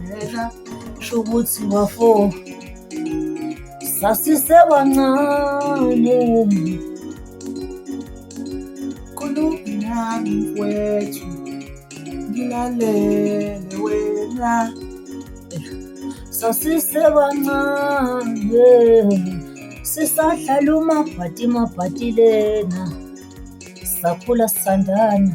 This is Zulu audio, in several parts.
Ngicela sho ukuthi bafo sasisebancane khulumi nami mfwethu ngilalele wena sasisebancane sisadlala umabhati mabhati lena sakhula sisandana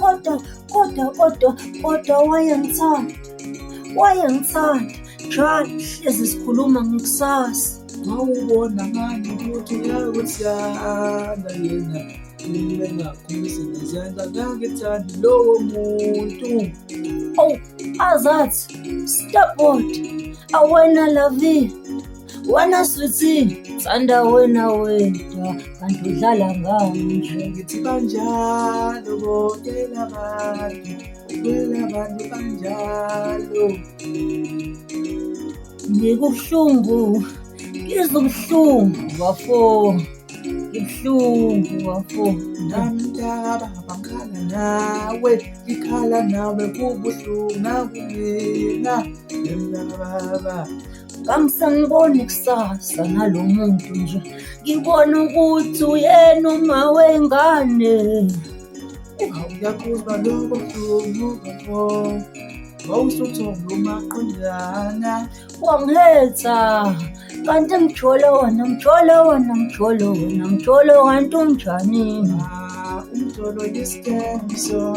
Kodwa kodwa kodwa kodwa wayengithanda wayengithanda njalo hlezi sikhuluma ngekusasa wawubona ngani ukuthi uyakuthanda yena kumele ngakhulise ngizandla ngangithandi lowo muntu ow azathi stop awena lavile Wena sweetie sanda wena wedwa kanti udlala ngami nje ngithi banjalo bonke labantu kwela bantu banjalo ngikubuhlungu ngizwa ubuhlungu bafo ibuhlungu bafo namntaka bangikhala nawe ngikhala nawe kubuhlungu nakumina emnababa kangisaniboni kusasa nalo muntu nje ngibona ukuthi uyena uma wengane awuyakuba lokho kubuko wawusuthola umaqondana wangihetha kanti mjolo wona mjolo wona mjolo wona mjolo kanti unjani ah, umjolo yisikenzo